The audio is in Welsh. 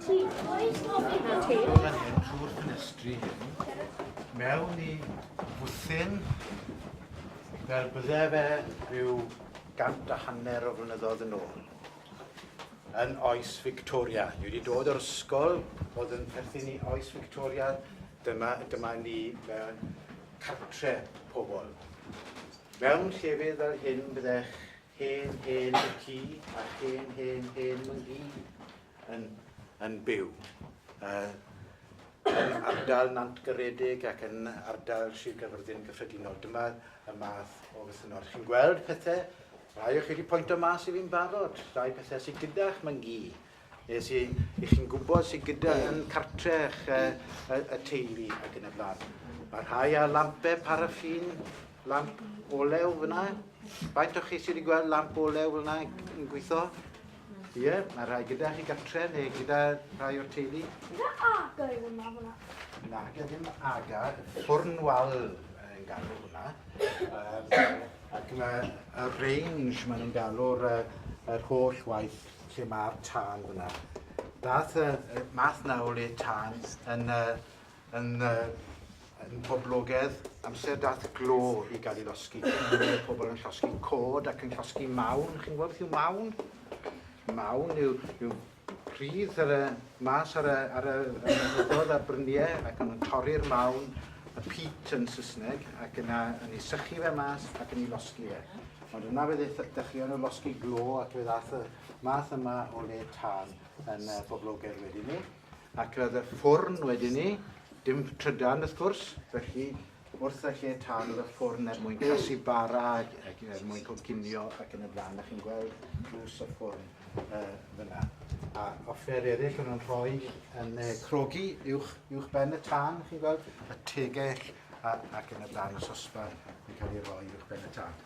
Ti, oes gofyn na ti? Fan hyn, trwy'r ffenestri hyn, mewn i fwthyn, fel bydde fe rhyw gant a hanner o flynyddoedd yn ôl, yn oes Victoria. Ni wedi dod o'r ysgol oedd yn perthyn i oes Victoria, dyma, dyma ni mewn cartre pobl. Mewn llefydd fel hyn byddech Hen hen y ci a hen hen hen myngi yn, yn byw. Uh, yn ardal Nant Garedig ac yn ardal Sir Gaerfyrddin gyffredinol. Dyma y math o fythynnod. Chi'n gweld pethau, rhai o chi wedi pwynt o mas i fi'n barod, rhai pethau sydd gyda'ch myngi Nes i, i chi'n gwybod sy'n gyda yn cartre eich y, y teulu ac yn y blaen. Mae rhai â lampau paraffin, lamp olew fyna. Faint o chi sydd wedi gweld lamp olew fyna yn gweithio? Ie, yeah, mae rhai gyda chi gartre neu gyda rhai o'r teulu. Gyda aga yw hwnna fyna? Na, gyda ddim aga, ffwrn wal yn galw hwnna. Um, ac mae y range maen nhw'n galw'r yr holl waith lle mae'r tân fyna. Dath y yy math 'na o le tân yn y yn y yn poblogedd amser dath glo i ga'l 'i losgi. Roedd pobol yn llosgi cod ac yn llosgi mawn. Chi'n gwbod beth yw mawn? Mawn yw yw pridd ar y mas ar y ar y y mynyddo'dd a'r brynie ac o'n nw'n torri'r mawn, y peat yn Sysneg, ac yna yn 'i sychu fe mas ac yn 'i losgi e. Ond dyna fe ddaeth, dechreuon nhw losgi glo ac fe ddaeth y math yma o le tân yn uh, boblogaidd wedyn ni. Ac roedd y ffwrn wedyn ni, dim trydan wrth gwrs, felly wrth y lle tân oedd y ffwrn er mwyn casu bara ac, ac er mwyn coginio ac yn y blaen. A chi'n gweld drws y ffwrn uh, fyna. A offer eraill o'n nhw'n rhoi yn uh, crogi uwch, uwch ben y tân, chi'n gweld, y tegell a, ac yn y blaen y sosba yn cael ei roi uwch ben y tân.